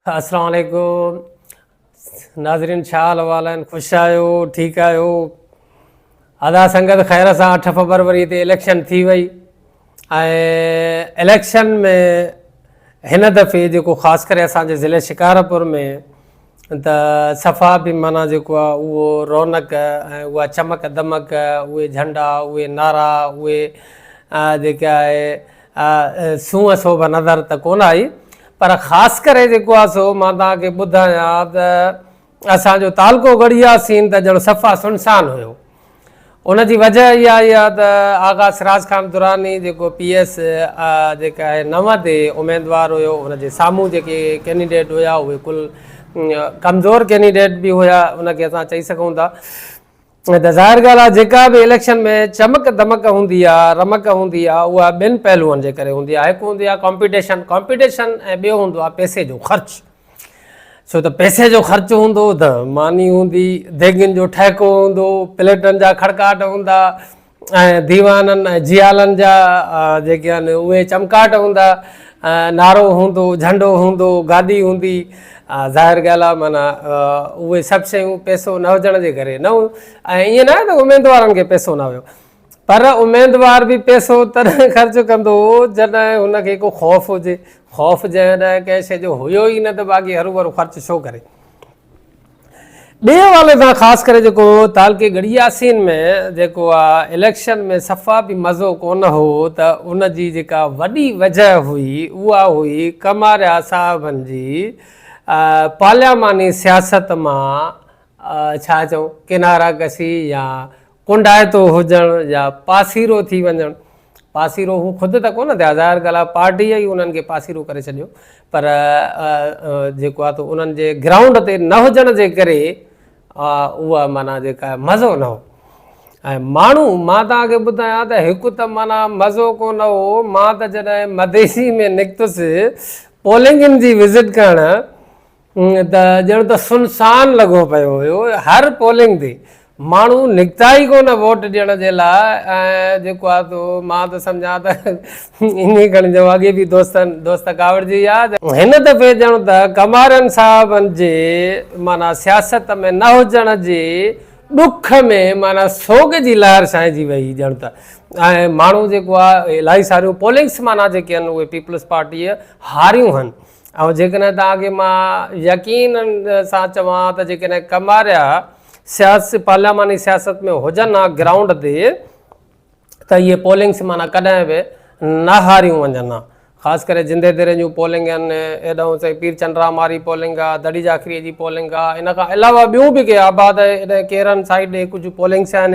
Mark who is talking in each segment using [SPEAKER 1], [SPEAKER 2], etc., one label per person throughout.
[SPEAKER 1] السلام عليڪم ناظرين ڇا حال احوال آهن خوش آهيو ٺيڪ آهيو ادا سنگت خير سان اٺ فبروري تي اليڪشن ٿي وئي اليڪشن ۾ هن دفعي جيڪو خاص ڪري اسانجي ضلع شڪارپور ۾ ته صفا به مانا جيڪو آهي اهو رونق ۽ اها چمڪ دمڪ اهي جهنڊا اهي نعرا اهي جيڪي آهي سونهن سوڀ نظر ته ڪونه آئي پر خاص ڪري جيڪو آ سو مان توهان کي ٻڌايان ته اسان جو تعلقو ڳڙهيا سين ته ڄڻ صفا سنسان هيو ان جي وجه اها آئي آ ته آغا سراج خان دراني جيڪو پي ايس جيڪا آهي نو تي اميدوار هيو ان جي سامهون جيڪي ڪينڊيڊيٽ هيا اهي ڪل ڪمزور ڪينڊيڊيٽ به هيا ان کي اسان چئي سگهون ٿا هي ته ظاهر ڳالهه آهي جيڪا به اليڪشن ۾ چمڪ دمڪ هوندي آهي، رمق هوندي آهي اها ٻن پهلوئن جي ڪري هوندي آهي، هڪ هوندي آهي ڪامپيٽيشن، Competition، ۽ ٻيو هوندو آهي پئسي جو خرچ، ڇو ته پئسي جو خرچ هوندو ته ماني هوندي، ديڳن جو ٺهڪو هوندو، پليٽن جا کڙڪاٽ هوندا، ۽ ديوانن ۽ جيالن جا جيڪي آهن اهي چمڪاٽ هوندا، نعرو هوندو، جهنڊو هوندو، گادي هوندي. ظاهر ڳالهه آهي معنيٰ اهي سڀ شيون پئسو نه هجڻ جي ڪري نه هيون ۽ ائين ناهي ته اميدوارن کي پئسو نه هيو پر اميدوار به پئسو تڏهن خرچ ڪندو هو جڏهن هن کي ڪو خوف هجي، خوف جنهن ڏانهن ڪنهن شيء جو هيو ئي نه ته باقي هروڀرو خرچ ڇو ڪري. ٻئي حوالي سان خاص ڪري جيڪو تعلقي ڳڙهي ياسين ۾ جيڪو آ اليڪشن ۾ صفا به مزو ڪونه هو ته ان جي جيڪا وڏي وجه هئي اها هئي ڪماريا صاحبن جي پارلياماني سياست مان ڇا چئون ڪناره ڪشي يا ڪونڊائتو هجڻ يا پاسيرو ٿي وڃڻ، پاسيرو هو خود ته ڪونه ٿيا ظاهر ڳالهه آهي پارٽيء ئي انهن کي پاسيرو ڪري ڇڏيو پر جيڪو آهي تو انهن جي گرائونڊ تي نه هجڻ جي ڪري اها معنيٰ جيڪا آهي مزو نه هو ۽ ماڻهو مان توهان کي ٻڌايان ته هڪ ته معنيٰ مزو ڪو نه هو مان ته جڏهن مديسي ۾ نڪتس پولنگن جي وزٽ ڪرڻ ته ڄڻ ته سنسان لڳو پيو هيو، هر پولنگ تي ماڻهو نڪتا ئي ڪونه ووٽ ڏيڻ جي لاء ۽ جيڪو آهي سو مان ته سمجهان ته ائين کڻ جو اڳي به دوستن دوست ڪاوڙجي ويا ته هن دفعي ڄڻ ته ڪمارن صاحبن جي معنيٰ سياست ۾ نه هجڻ جي ڏک ۾ معنيٰ سوڳ جي لهر ڇانئجي وئي ڄڻ ته ۽ ماڻهو جيڪو آهي الاهي ساريون پولنگس معنيٰ جيڪي آهن اهي پيپلز پارٽيء هاريون آهن ۽ جيڪڏهن توهان کي مان يقين سان چوان ته جيڪڏهن ڪماريا سياسي پارلياماني سياست ۾ هجن ها گرائونڊ تي ته اهي پولنگ سيمانا ڪڏهن به نه هاريون وڃن ها خاص ڪري جندي ديرين جون پولنگ آهن ايڏهون سائين پير چنڊرام واري پولنگ آهي دڙي جاکري جي پولنگ آهي ان کان علاوه ٻيون به ڪي آباد ايڏهن ڪيرن سائيڊ ڏي ڪجهه پولنگس آهن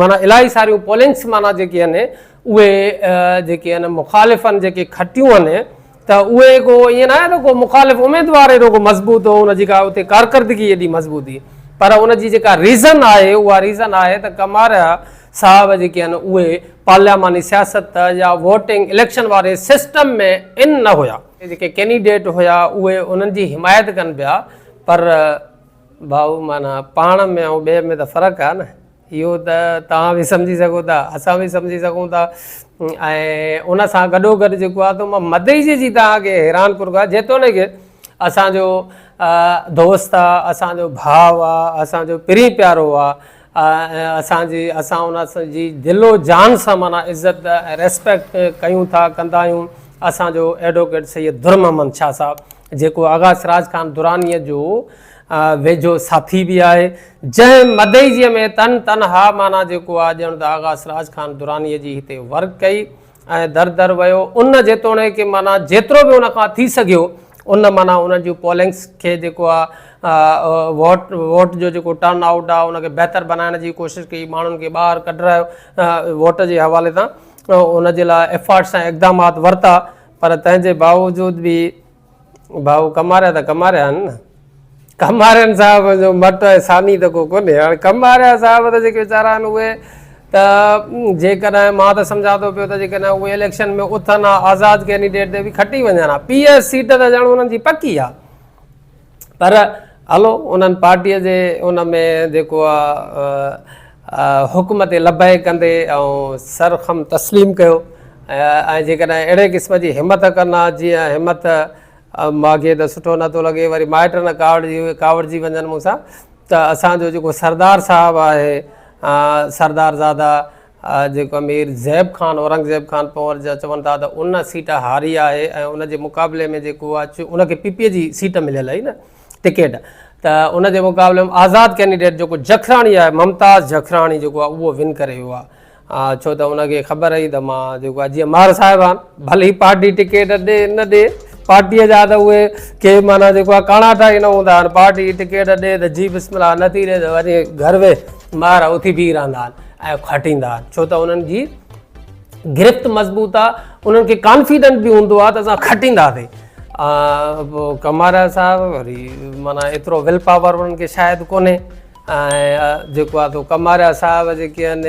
[SPEAKER 1] مانا الائي ساريون پولنگس مانا جيڪي آهن اهي جيڪي آهن مخالفن جيڪي کٽيون آهن ته اهي ڪو ائين ناهي ته ڪو مخالف اميدوار ايڏو ڪو مضبوط هو، ان جي ڪا اتي ڪارڪردگي ايڏي مضبوط هئي، پر ان جي جيڪا ريزن آهي اها ريزن آهي ته ڪماريا صاحب جيڪي آهن اهي پارلياماني سياست يا ووٽنگ اليڪشن واري سسٽم ۾ ان نه هيا. جيڪي ڪينڊيڊيٽ هيا اهي انهن جي حمايت ڪن پيا پر ڀائو معنيٰ پاڻ ۾ ۽ ٻئي ۾ ته فرق آهي نه. اهو ته توهان به سمجهي سگهو ٿا اسان به سمجهي سگهون ٿا ۽ ان سان گڏو گڏ جيڪو آهي تو مان مدئي جي جي توهان کي حيران ڪرو ڪا جيتوڻيڪ اسان جو دوست آهي اسان جو ڀاء آهي اسان جو پرين پيارو آهي اسان جي اسان ان جي دل و جان سان مانا عزت ريسپيڪٽ ڪيون ٿا ڪندا آهيون اسان جو ايڊووڪيٽ سيد در محمد شاهه صاحب جيڪو آغا سراج خان درانيء جو ويجهو ساٿي به آهي، جنهن مدئجيء ۾ تن تنها معنيٰ جيڪو آهي ڄڻ ته آغا سراج خان درانيء جي هتي ورڪ ڪئي ۽ در در ويو، ان جيتوڻيڪ معنيٰ جيترو به ان کان ٿي سگهيو، ان معنيٰ انهن جون پولنگس کي جيڪو آهي ووٽ ووٽ جو جيڪو ٽرن آئوٽ آهي ان کي بهتر بنائڻ جي ڪوشش ڪئي، ماڻهن کي ٻاهر ڪڍرايو، ووٽ جي حوالي سان ان جي لاء ايفرٽس ۽ اقدامات ورتا، پر تنهن جي باوجود به ڀائو ڪماريا ته ڪماريا آهن نه ڪمارين صاحب جو مٽ ۽ ثاني ته ڪو ڪونهي هاڻي ڪماريا صاحب ته جيڪي ويچارا آهن اهي ته جيڪڏهن مان ته سمجهان ٿو پيو ته جيڪڏهن اهي اليڪشن ۾ اٿن ها آزاد ڪينڊيڊيٽ تي به کٽي وڃن ها پي ايس سيٽ ته ڄڻ انهن جي پڪي آهي پر هلو انهن پارٽيء جي ان ۾ جيڪو آ حڪم تي لبيڪ ڪندي آئون سر خم تسليم ڪيو ۽ جيڪڏهن اهڙي قسم جي همت ڪن ها جيئن همت ماڳهين ته سٺو نه ٿو لڳي وري مائٽ نه ڪاوڙجي ڪاوڙجي وڃن مون سان ته اسان جو جيڪو سردار صاحب آهي سردار زاده جيڪو امير زيب خان، اورنگزيب خان پنهور جا چون ٿا ته ان سيٽ هاري آهي ۽ ان جي مقابلي ۾ جيڪو آهي چون ان کي پي پي جي سيٽ مليل آهي نه ٽڪيٽ ته ان جي مقابلي ۾ آزاد ڪينڊيڊيٽ جيڪو جکراڻي آهي ممتاز جکراڻي جيڪو آهي اهو ون ڪري ويو آهي ڇو ته ان کي خبر هئي ته مان جيڪو آهي جيئن مار صاحب آهن ڀلي ئي پارٽي ٽڪيٽ ڏي نه ڏي پارٽيء جا ته اهي ڪي معنيٰ جيڪو آهي ڪاڻاٺا ئي نه هوندا آهن پارٽي ٽڪيٽ ڏي ته جي بسم الله نه ٿي ڏي ته وڃي گهر ويهه مار اٿي بيهي رهندا آهن اهو کٽيندا آهن ڇو ته انهن جي گرفت مضبوط آ انهن کي ڪانفيڊنس به هوندو آ ته اسان کٽينداسين ڪمارا صاحب وري مانا ايترو ول پاور انهن کي شايد ڪونهي ۽ جيڪو آ تو ڪمارا صاحب جيڪي آهن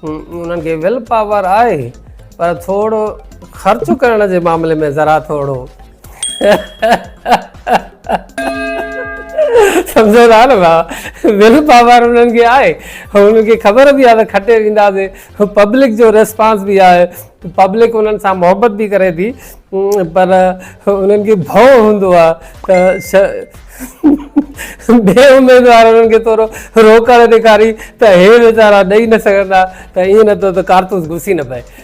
[SPEAKER 1] انهن کي ول پاور آهي پر ٿورو خرچ ڪرڻ جي معاملي ۾ ذرا ٿورو سمجهو ٿا نه ڀاء ول پاور انهن کي آهي انهن کي خبر به آهي ته کٽي وينداسي پبلڪ جو ريسپانس به آهي پبلڪ انهن سان محبت به ڪري ٿي پر انهن کي ڀؤ هوندو آهي ته بي اميدوار انهن کي ٿورو روڪڻ ڏيکاري ته هي ويچارا ڏئي نه سگهندا ته ائين نه ٿو ته ڪارتوس گسي نه پئي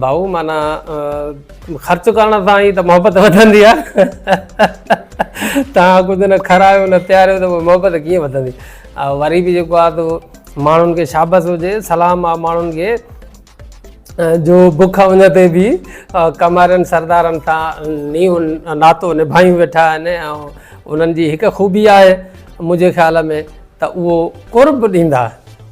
[SPEAKER 1] ڀائو معنيٰ خرچ ڪرڻ سان ئي ته محبت وڌندي آهي تان ڪجهه نه کارايو نه پياريو ته محبت ڪيئن وڌندي وري به جيڪو آهي تو ماڻهن کي شابس هجي سلام آ ماڻهن کي جو بک ان تي به ڪمارن سردارن سان نيو ناتو نڀايون ويٺا آهن ۽ انهن جي هڪ خوبي آهي منهنجي خيال ۾ ته اهو قرب ڏيندا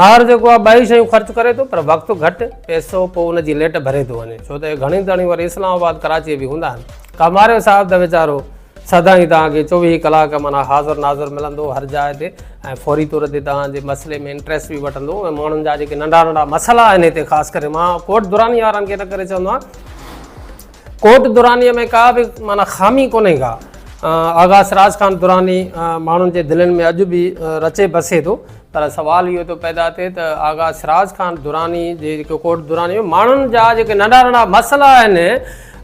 [SPEAKER 1] ماهر جيڪو آهي ٻئي شيون خرچ ڪري ٿو پر وقت گهٽ پئسو پوء ان جي ليٽ ڀري ٿو وڃي ڇو ته اهي گهڻيون تڻيون وري اسلام آباد ڪراچيء به هوندا آهن ڪاماريو صاحب ته ويچارو سدائين توهان کي چوويهه ڪلاڪ معنيٰ حاضر ناظر ملندو هر جاء تي ۽ فوري طور تي توهان جي مسئلي ۾ انٽريسٽ به وٺندو ۽ ماڻهن جا جيڪي ننڍا ننڍا مسئلا آهن هتي خاص ڪري مان ڪوٽ دراني وارن کي ان ڪري چوندو آهيان ڪوٽ درانيء ۾ ڪا به معنيٰ خامي ڪونهي ڪا. آغا سراج خان دراني ماڻهن جي دلين ۾ اڄ به رچي بسي ٿو. پر سوال اهو ٿو پيدا ٿئي ته آغا سراج خان دراني جي جيڪي ڪوٽ درانيء ۾ ماڻهن جا جيڪي ننڍا ننڍا مسئلا آهن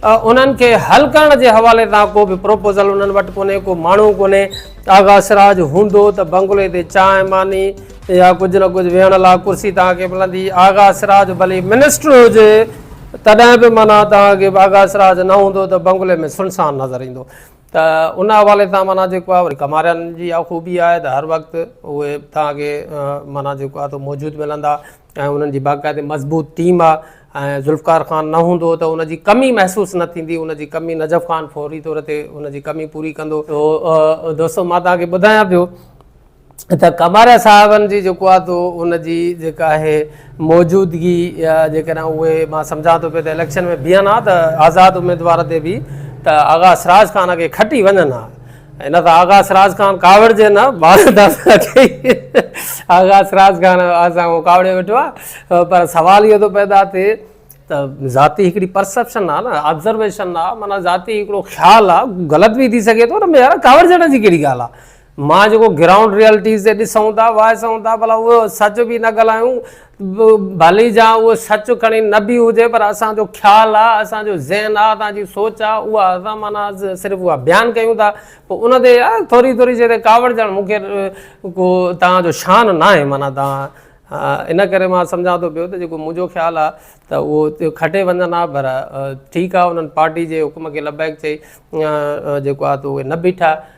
[SPEAKER 1] انهن کي حل ڪرڻ جي حوالي سان ڪو به پروپوزل انهن وٽ ڪونهي ڪو ماڻهو ڪونهي. آغا سراج هوندو ته بنگلي تي چانهه ماني. يا ڪجهه نه ڪجهه ويهڻ لاء ڪرسي توهان کي ملندي. آغا سراج ڀلي منسٽر هجي تڏهن به معنيٰ توهان کي آغا سراج نه هوندو ته بنگلي ۾ سنسان نظر ايندو ته ان حوالي سان معنيٰ جيڪو آهي ڪمارين جي اها خوبي آهي ته هر وقت اهي توهان کي معنيٰ جيڪو آهي سو موجود ملندا ۽ انهن جي باقاعدي مضبوط ٽيم آهي ۽ ذوالفقار خان نه هوندو ته ان جي ڪمي محسوس نه ٿيندي ان جي ڪمي نجف خان فوري طور تي ان جي ڪمي پوري ڪندو. دوستو مان توهان کي ٻڌايان پيو. ته ڪماريا صاحبن جي جيڪو آهي تو ان جي جيڪا آهي موجودگي يا جيڪڏهن اهي مان سمجهان ٿو پيو ته اليڪشن ۾ بيهن ها ته آزاد اميدوار تي به ته آغا سراج خان کي کٽي وڃن ها ان سان آغا سراج خان ڪاوڙجي نه آغا سراج خان اسان ڪاوڙي ويٺو آهي پر سوال اهو ٿو پيدا ٿئي ته ذاتي هڪڙي پرسپشن آهي نه آبزرويشن آهي مانا ذاتي هڪڙو خيال آهي غلط به ٿي سگهي ٿو نه يار ڪاوڙجڻ جي ڪهڙي ڳالهه مان جيڪو گرائونڊ ريئلٽيز تي ڏسون ٿا وائسون ٿا ڀلا اهو سچ به نه ڳالهايون ڀلي جا اهو سچ کڻي نه به هجي پر اسان جو خيال آ اسان جو ذهن آ اسان جي سوچ آ اها اسان معنيٰ صرف اها بيان ڪيون ٿا پوء ان تي يار ٿوري ٿوري شي تي ڪاوڙجڻ مون کي ڪو توهان جو شان ناهي معنيٰ توهان ان ڪري مان سمجهان ٿو پيو ته جيڪو منهنجو خيال آ ته اهو کٽي وڃن آ پر ٺيڪ آ انهن پارٽي جي حڪم کي لبيڪ چئي جيڪو آ ته اهي نه بيٺا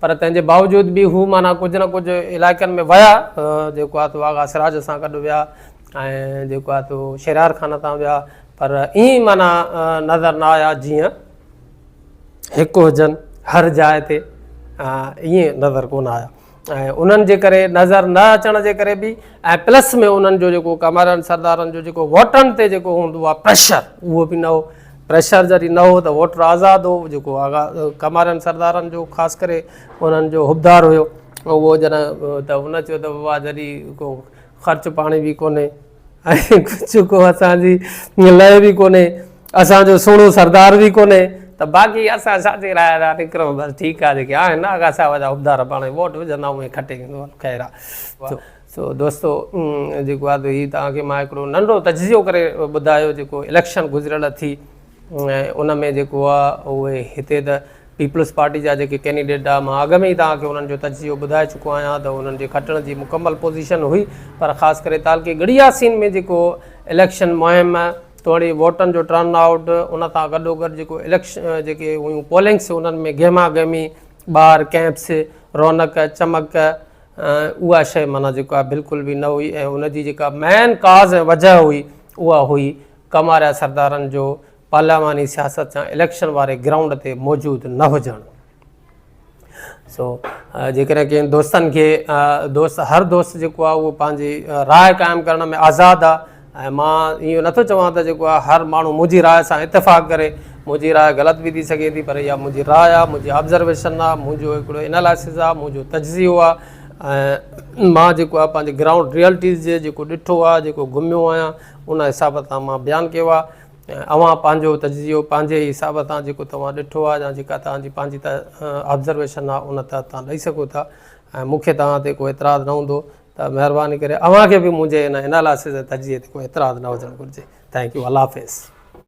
[SPEAKER 1] پر تنهن جي باوجود به هو معنيٰ ڪجهه نه ڪجهه علائقن ۾ ويا جيڪو آهي تو آغا سراج سان گڏ ويا ۽ جيڪو آهي تو شهريار خان تان ويا پر ائين معنيٰ نظر نه آيا جيئن هڪ هجن هر جاء تي ائين نظر ڪونه آيا ۽ انهن جي ڪري نظر نه اچڻ جي ڪري به ۽ پلس ۾ انهن جو جيڪو ڪمارن سردارن جو جيڪو ووٽن تي جيڪو هوندو آهي پريشر اهو به نه هو پريشر جاري نه هو ته ووٽر آزاد هو جيڪو آغا ڪمارن سردارن جو خاص ڪري انهن جو حبدار هيو اهو جڏهن ته ان چيو ته بابا جاري ڪو خرچ پاڻي به ڪونهي ۽ ڪجهه ڪو اسان جي لئه به ڪونهي اسان جو سهڻو سردار به ڪونهي ته باقي اسان ساٿي رايا جا نڪرون بس ٺيڪ آهي جيڪي آهن آغا صاحب جا حبدار پاڻي ووٽ وجهندا اهي کٽي خير آهي سو دوستو جيڪو آهي هي توهان کي مان هڪڙو ننڍو تجزيو ڪري ٻڌايو جيڪو اليڪشن گذريل ٿي ۽ ان ۾ جيڪو آهي اهي هتي ته پيپلز پارٽي جا جيڪي ڪينڊيڊيٽ آهي مان اڳ ۾ ئي توهان کي انهن جو تجزيو ٻڌائي چڪو آهيان ته انهن جي کٽڻ جي مڪمل پوزيشن هئي پر خاص ڪري تعلقي گڙياسين ۾ جيڪو اليڪشن مهم توڙي ووٽن جو ٽرن آئوٽ ان سان گڏوگڏ جيڪو اليڪشن جيڪي هيون پولنگس انهن ۾ گهما گهمي ٻار ڪئمپس رونق چمڪ اها شيء معنيٰ جيڪا بلڪل به نه هئي ۽ ان جي جيڪا مين ڪاز ۽ وجهه هئي اها هئي ڪماريا سردارن جو پارلياماني سياست جا اليڪشن واري گرائونڊ تي موجود نه هجڻ. سو جيڪڏهن ڪنهن دوستن کي دوست هر دوست جيڪو آهي اهو پنهنجي راء قائم ڪرڻ ۾ آزاد آهي. ۽ مان اهو نه ٿو چوان ته جيڪو آهي هر ماڻهو منهنجي راء سان اتفاق ڪري، منهنجي راء غلط به ٿي سگهي ٿي پر اها منهنجي راء آهي، منهنجي آبزرويشن آهي، منهنجو هڪڙو انالائسز آهي، منهنجو تجزيو آهي ۽ مان جيڪو آهي پنهنجي گرائونڊ ريئلٽيز جي جيڪو ڏٺو آهي، جيڪو گهميو آهيان ان حساب سان مان بيان ڪيو آهي ۽ اوهان پنهنجو تجزيو پنهنجي ئي حساب سان جيڪو توهان ڏٺو آهي يا جيڪا توهان جي پنهنجي آبزرويشن آهي ان تحت توهان ڏئي سگهو ٿا ۽ مون کي توهان تي ڪو اعتراض نه هوندو ته مهرباني ڪري اوهان کي به منهنجي ان انالائسس ۽ تجزيي تي ڪو اعتراض نه هجڻ گهرجي. ٿينڪ يو الله حافظ.